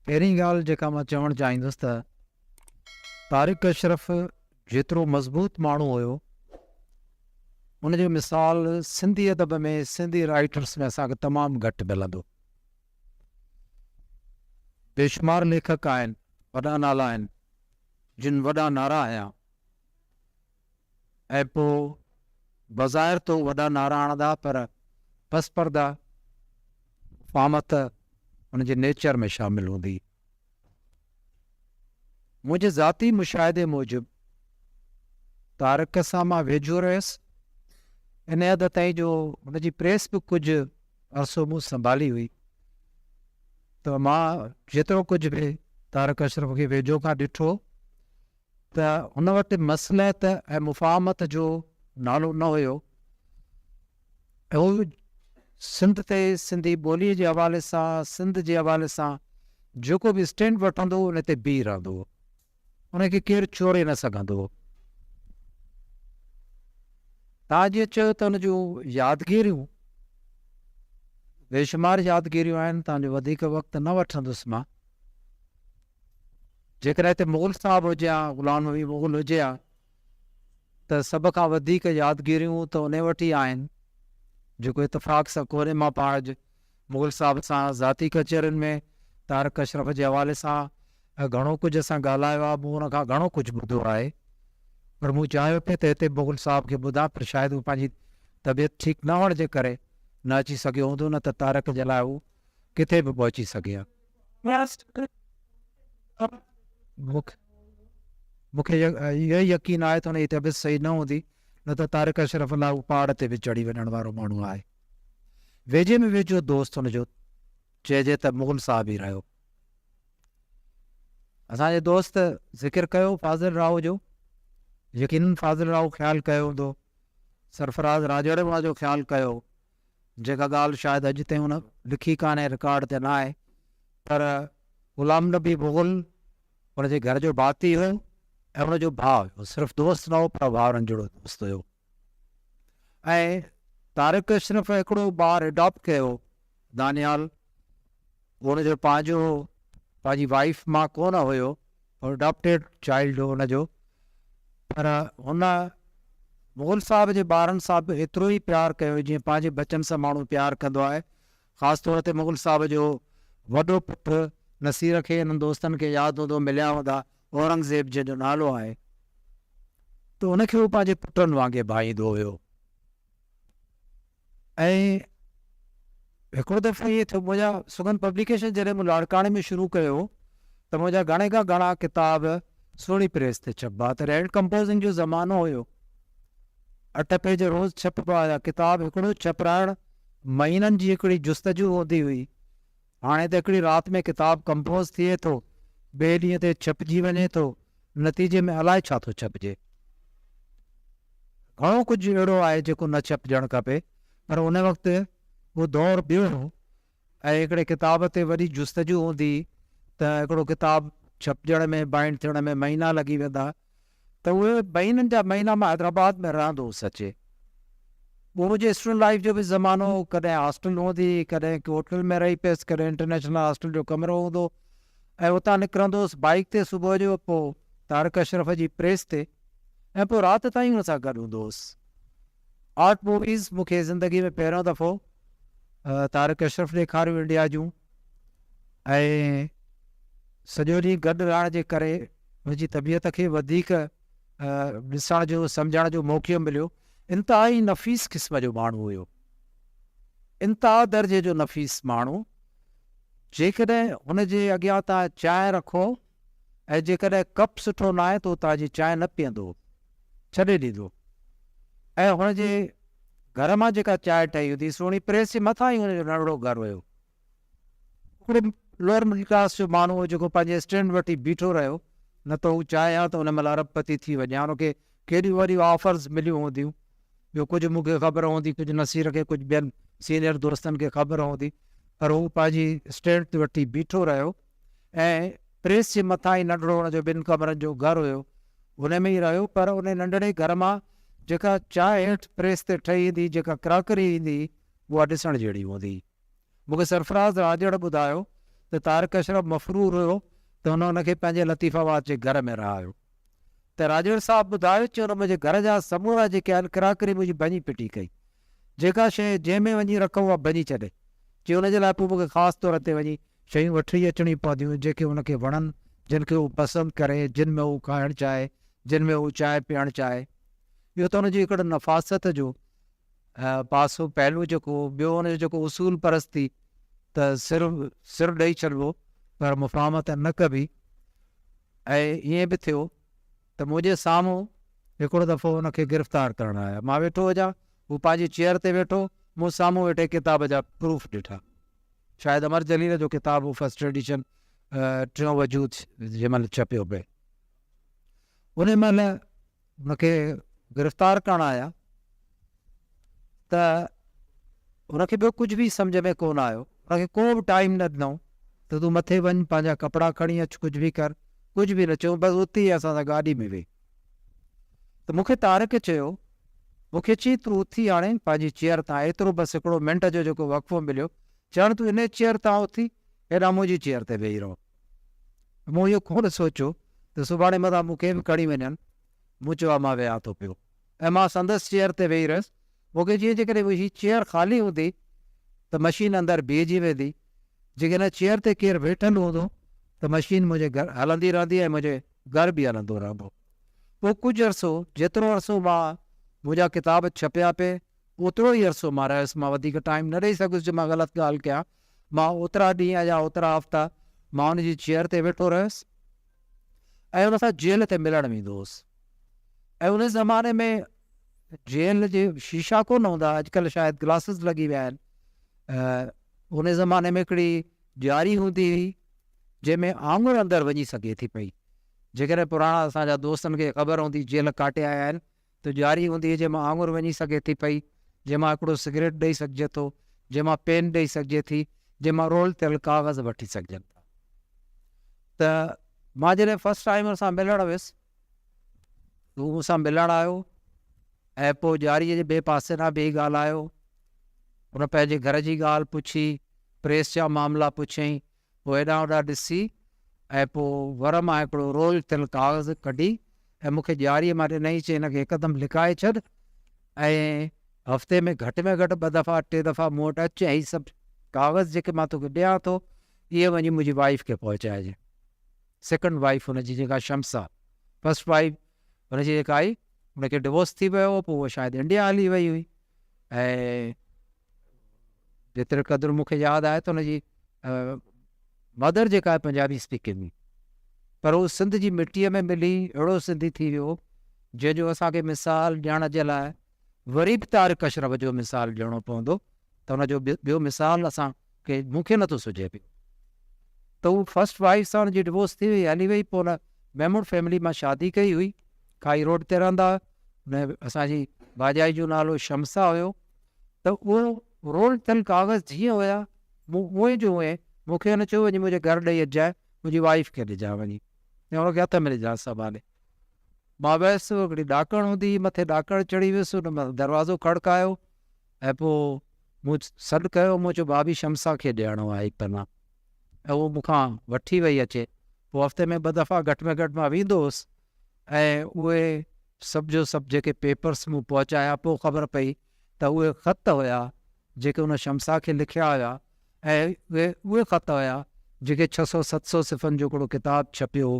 پهرين ڳالهه جيڪا مان چوڻ چاهيندس ته طارق اشرف جيترو مضبوط ماڻهو هيو ان جو مثال سنڌي ادب ۾ سنڌي رائيٽرس ۾ اسان کي تمام گهٽ ملندو بيشمار ليکڪ آهن وڏا نالا آهن جن وڏا نعرا هيا ۽ پوء بظاهر تو وڏا نعرا هڻندا پر پس پرده فامت انهن جي نيچر ۾ شامل هوندي. منهنجي ذاتي مشاهدي موجب طارق سان مان ويجهو رهيس ان حد تائين جو هن جي پريس به ڪجهه عرصو مون سنڀالي هئي ته مان جيترو ڪجهه به طارق اشرف کي ويجهو کان ڏٺو ته هن وٽ مصلحت ۽ مفاهمت جو نالو نه هيو. هو سنڌ تي سنڌي ٻوليء جي حوالي سان، سنڌ جي حوالي سان جيڪو به اسٽينڊ وٺندو هو، ان تي بيهي رهندو هو. ان کي ڪير چوري نه سگهندو هو. توهان جيئن چيو ته ان جون يادگيريون بيشمار يادگيريون آهن، توهان جو وڌيڪ وقت نه وٺندس مان. جيڪڏهن هتي مغل صاحب هجي ها، غلام نبي مغل هجي ها ته سڀ کان وڌيڪ يادگيريون ته انهي وٽ ئي آهن، جيڪو اتفاق سان ڪوري مان پاهج مغل صاحب سان ذاتي ڪچهرين ۾ طارق اشرف جي حوالي سان گهڻو ڪجهه اسان ڳالهايو آهي، مون ان کان گهڻو ڪجهه ٻڌو آهي، پر مون چاهيو پئي ته هتي مغل صاحب کي ٻڌان، پر شايد هو پنهنجي طبيعت ٺيڪ نه هئڻ جي ڪري نه اچي سگهيو هوندو، نه ته طارق جي لاء هو ڪٿي به پهچي سگهي ها. مون کي اهو يقين آهي ته ان جي طبيعت صحيح نه هوندي، نه ته طارق اشرف الله اهو پهاڙ تي به چڙهي وڃڻ وارو ماڻهو آهي. ويجهي ۾ ويجهو دوست هن جو چئجي ته مغل صاحب ئي رهيو. اسان جي دوست ذڪر ڪيو فاضل راهو جو، يقينن فاضل راهو خيال ڪيو هوندو، سرفراز راڄڙ واجو خيال ڪيو، جيڪا ڳالهه شايد اڄ تائين هن لکي ڪانهي، رڪارڊ تي ناهي، پر غلام نبي مغل هن جي گهر جو ڀاتي هو ۽ هن جو ڀاء هو، صرف دوست نه هو پر ڀائرن جهڙو دوست هيو ۽ طارق اشرف هڪڙو ٻار اڊاپٽ ڪيو هو دانيال، هن جو پنهنجو هو، پنهنجي وائيف مان ڪونه هيو. هو اڊاپٽيڊ چائلڊ هو ان جو پر هن مغل صاحب جي ٻارن سان به ايترو ئي پيار ڪيو جيئن پنهنجي ٻچن سان ماڻهو پيار ڪندو آهي. خاص طور تي مغل صاحب جو وڏو پٽ نصير کي انهن دوستن کي ياد هوندو مليا هوندا اورنگزيب جنهن جو نالو آهي ته ان کي هو پنهنجي پٽن وانگي ڀائيندو هيو. ۽ هڪڙو دفعو ائين ٿيو منهنجا سگن پبليڪيشن جڏهن مون لاڙڪاڻي ۾ شروع ڪيو ته منهنجا گهڻي کان گهڻا ڪتاب سهڻي پريس تي ڇپبا ته رينڊ ڪمپوزنگ جو زمانو هيو اٺ پيج روز ڇپبا هيا ڪتاب هڪڙو ڇپرائڻ مهينن جي هڪڙي جستجو هوندي هئي هاڻي ته هڪڙي رات ۾ ڪتاب ڪمپوز ٿئي ٿو، ٻئي ڏينهن تي ڇپجي وڃي ٿو، نتيجي ۾ الائي ڇا ٿو ڇپجي. گهڻو ڪجهه اهڙو آهي جيڪو نه ڇپجڻ کپي، پر ان وقت اهو دور ٻيو هو ۽ هڪڙي ڪتاب تي وڏي جستجو هوندي هئي ته هڪڙو ڪتاب ڇپجڻ ۾ بائينڊ ٿيڻ ۾ مهينا لڳي ويندا ته اهي مهينن جا مهينا مان حيدرآباد ۾ رهندو هوس اچي پوء منهنجي اسٽوڊنٽ لائيف جو به زمانو هو ڪڏهن هاسٽل هوندي ڪڏهن ڪي هوٽل ۾ رهي پيس ڪڏهن انٽرنيشنل هاسٽل جو ڪمرو هوندو ۽ اتان نڪرندو هوس بائيڪ تي صبح جو پوء طارق اشرف جي پريس تي ۽ پوء رات تائين هن سان گڏ هوندو هوس آرٽ موويز مون کي زندگي ۾ پهريون دفعو طارق اشرف ڏيکاريون انڊيا جون ۽ سڄو ڏينهن گڏ رهڻ جي ڪري هن جي طبيعت کي وڌيڪ ڏسڻ جو سمجهڻ جو موقعو مليو انتهائي نفيس قسم جو ماڻهو هيو انتها درجي جو نفيس ماڻهو جيڪڏهن هن جي اڳيان تان چانهه رکو ۽ جيڪڏهن ڪپ سٺو ناهي ته هو تازي چانهه نه پيئندو هو، ڇڏي ڏيندو هو ۽ هن جي گهر مان جيڪا چانهه ٺهي هوندي سهڻي پريس جي مٿان ئي هن جو ننڍڙو گهر هيو. هڪڙو لوئر مڊل ڪلاس جو ماڻهو هو جيڪو پنهنجي اسٽينڊ وٺي بيٺو رهيو، نه ته هو چانهه ها ته ان مهل ارب پتي ٿي وڃي ها، هن کي ڪيڏيون وڏيون آفرز مليون هونديون، جو ڪجهه مون کي خبر هوندي، ڪجهه نصير کي، ڪجهه ٻين سينئر دوستن کي خبر هوندي، پر هو پنهنجي اسٽينڊ تي وٺي بيٺو رهيو. ۽ پريس جي مٿان ئي ننڍڙو هن جو ٻن ڪمرن جو گهر هيو. ان ۾ ئي رهيو پر ان ننڍڙي گهر مان جيڪا چانهه هيٺ پريس تي ٺهي ايندي، جيڪا ڪراڪري ايندي اها ڏسڻ جهڙي هوندي هئي. مون کي سرفراز راڄڙ ٻڌايو ته طارق اشرف مفرور هيو ته هن ان کي پنهنجي لطيف آباد جي گهر ۾ رهايو. ته راڄوڙ صاحب ٻڌايو چون ته منهنجي گهر جا سمورا جيڪي آهن ڪراڪري منهنجي ڀڃي پٽي ڪئي جيڪا شيء جنهن ۾ وڃي رک اها ڀڃي ڇڏي چي ان جي لاء پوء مون کي خاص طور تي وڃي شيون وٺي اچڻيون پونديون جيڪي ان کي وڻن جن کي هو پسند ڪري جن ۾ هو کائڻ چاهي جن ۾ هو چانهه پيئڻ چاهي اهو ته ان جي هڪڙي نفاست جو پاسو پهلو جيڪو هو ٻيو ان جو جيڪو اصول پرستي ته سر سر ڏئي ڇڏبو پر مفاهمت نه ڪبي ۽ ائين به ٿيو ته منهنجي سامهون هڪڙو دفعو ان کي گرفتار ڪرڻ آيا مان ويٺو هجان هو پنهنجي چيئر تي ويٺو مون سامهون ويٺي ڪتاب جا پروف ڏٺا شايد امر جليل جو ڪتاب هو فرسٽ ايڊيشن ٽيون وجود جنهن مهل ڇپيو پئي ان مهل هن کي گرفتار ڪرڻ آيا ته هن کي ٻيو ڪجهه به سمجهه ۾ ڪونه آيو، هن کي ڪو به ٽائيم نه ڏنائون ته تون مٿي وڃ پنهنجا ڪپڙا کڻي اچ ڪجهه به ڪر، ڪجهه به نه چيائون بس اتي ئي اسان سان گاڏي ۾ ويهه ته مون کي طارق چيو مون کي چي تون اٿي هاڻي پنهنجي چيئر تان ايترو بس هڪڙو منٽ جو جيڪو وقفو مليو چي هاڻي تون انهي چيئر تان اٿي هيڏانهن منهنجي چيئر تي ويهي رهو. مون اهو ڪونه سوچيو ته سڀاڻي متان مون کي به کڻي وڃن. مون چيو ها مان ويهان ٿو پيو ۽ مان سندس چيئر تي ويهي رهيس. مون کي جيئن جيڪڏهن هي چيئر خالي هوندي ته مشين اندر بيهجي ويندي. جيڪڏهن هن چيئر تي ڪير ويٺل هوندو ته مشين منهنجي گهر هلندي رهندي ۽ منهنجي گهر به هلندو رهندو. پوء ڪجهه عرصو جيترو عرصو مان منهنجا ڪتاب ڇپيا پئي اوترو ئي عرصو مان رهيس. مان وڌيڪ ٽائيم نه ڏئي سگهيس جو مان غلط ڳالهه ڪيان. مان اوترا ڏينهن يا اوترا هفتا مان ان جي چيئر تي ويٺو رهيس ۽ ان سان جيل تي ملڻ ويندو هوس ۽ ان زماني ۾ جيل جي شيشا ڪونه هوندا اڄڪلهه شايد گلاسز لڳي ويا آهن ان زماني ۾ هڪڙي ڄاري هوندي هئي جنهن ۾ آڱر اندر وڃي سگهي ٿي پئي جيڪڏهن پراڻا اسان جا دوستن کي خبر هوندي جيل ڪاٽي آيا آهن تو ڄاري هونديء جنهن مان آڱر وڃي سگهي ٿي پئي، جنهن مان هڪڙو سگريٽ ڏئي سگهجي ٿو، جنهن مان پين ڏئي سگهجي ٿي، جنهن مان رول ٿيل ڪاغذ وٺي سگهجن ٿا. ته مان جڏهن فرسٽ ٽائيم هن سان ملڻ ويس هو مون سان ملڻ آيو ۽ پوء ڄاري جي ٻئي پاسي ڏانهن بيهي ڳالهايو. هن پنهنجي گهر جي ڳالهه پڇي، پريس جا معاملا پڇيائين، هو هيڏانهن هوڏانهن ڏسي ۽ پوء ور مان هڪڙو رول ٿيل ڪاغذ ڪڍي ۽ مون کي ڄاريء مان ڏنائين، چيائين هن کي هڪدم لڪائي ڇڏ ۽ هفتي ۾ گهٽ ۾ گهٽ ٻه دفعا ٽي دفعا مون وٽ اچ ۽ هي سڀ ڪاغذ جيڪي مان توکي ڏيان ٿو اهي وڃي منهنجي وائيف کي پهچائجي. سيڪنڊ وائيف هن جي جيڪا شمس آ، فرسٽ وائيف هن جي جيڪا آئي، ان کي ڊوورس ٿي ويو هو پوء هوء شايد انڊيا هلي وئي هئي ۽ جيتري قدر مون کي ياد آهي ته ان جي مدر جيڪا آهي پنجابي اسپيڪنگ هئي پر هو سنڌ جي مٽيء ۾ ملي اهڙو سنڌي ٿي ويو جنهن جو اسان کي مثال ڏيڻ جي لاء وري به طارق اشرف جو مثال ڏيڻو پوندو ته ان جو ٻيو مثال اسان ڪي مون کي نٿو سجهي پيو ته هو فرسٽ وائيف سان جي ڊوورس ٿي وئي هلي وئي پوء محمود فيملي مان شادي ڪئي هئي کائي روڊ تي رهندا هئا اسان جي ڀاڄائي جو نالو شمسا هيو ته اهو رول ٿيل ڪاغذ جيئن هيا مون اهي جو اهي مون کي هن چيو وڃي منهنجي گهر ڏيئي اچجانء منهنجي وائيف کي ڏجانء وڃي ۽ هن کي هٿ ۾ ڏجانء سنڀالي مان ويس هڪڙي ڏاڪڻ هوندي هئي مٿي ڏاڪڻ چڙهي ويس هن دروازو کڙڪايو ۽ پوء مون سڏ ڪيو، مون چيو ڀاڀي شمسا کي ڏيڻو آهي پنا ۽ هوء مون کان وٺي وئي اچي. پوء هفتي ۾ ٻه دفعا گهٽ ۾ گهٽ مان ويندو هوس ۽ اهي سڀ جو سڀ جيڪي پيپرس مون پهچايا، پوء خبر پئي ته اهي خط هيا جيڪي هن شمسا کي لکيا هيا ۽ اهي اهي خط هيا جيڪي ڇهه سؤ ست سؤ صفحن جو هڪڙو ڪتاب ڇپيو هو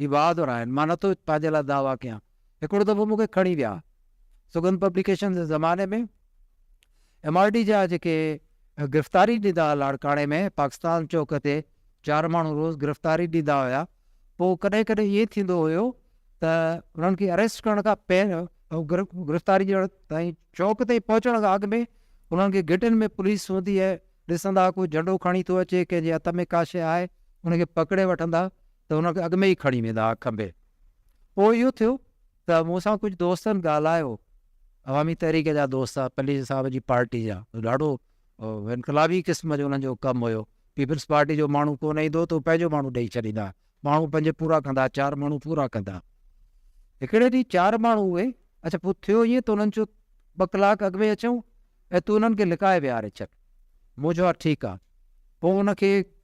هي بهادر آهن، مان نٿو پنهنجي لاء دعويٰ ڪيان. هڪڙو دفعو مون کي کڻي ويا. سگهند پبليڪيشنز جي زماني ۾ ايم آر ڊي جا جيڪي گرفتاري ڏيندا هئا لاڙڪاڻي ۾ پاڪستان چوڪ تي چار ماڻهو روز گرفتاري ڏيندا هيا پوء ڪڏهن ڪڏهن ائين ٿيندو هيو ته انهن کي اريسٽ ڪرڻ کان پهريان گرفتاري ڏيڻ تائين چوڪ تائين پهچڻ کان اڳ ۾ انهن کي گيٽن ۾ پوليس هوندي هئي ڏسندا ڪو جهنڊو کڻي ٿو اچي ڪنهن جي هٿ ۾ ڪاشي آهي ان کي پڪڙي وٺندا ته هن کي اڳ ۾ ئي کڻي ويندا هئا کنڀي. پوء اهو ٿيو ته مون سان ڪجهه دوستن ڳالهايو، عوامي تحريڪ جا دوست، پليجي صاحب جي پارٽي جا، ڏاڍو انقلابي قسم جو انهن جو ڪم هيو، پيپلز پارٽي جو ماڻهو ڪونه ايندو هو ته هو پنهنجو ماڻهو ڏيئي ڇڏيندا هئا، ماڻهو پنهنجي پورا ڪندا هئا، چار ماڻهو پورا ڪندا. هڪڙي ڏينهن چار ماڻهو اهي، اڇا پوء ٿيو ائين ته انهن چيو ٻه ڪلاڪ اڳ ۾ اچون ۽ تون انهن کي لڪائي ويهاري ڇڏ. مون چيو ها ٺيڪ آهي. پوء ان کي.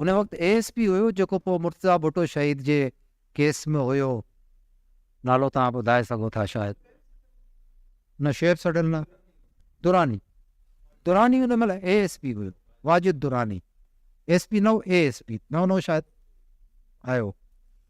ان وقت اي ايس پي هيو جيڪو پوء مرتضيٰ ڀٽو شهيد جي ڪيس ۾ هيو نالو توهان ٻڌائي سگهو ٿا شايد نه شعيب سڊل نه دراني دراني ان مهل اي ايس پي هيو واجد دراني ايس پي نه هو اي ايس پي نئون نئون شايد آيو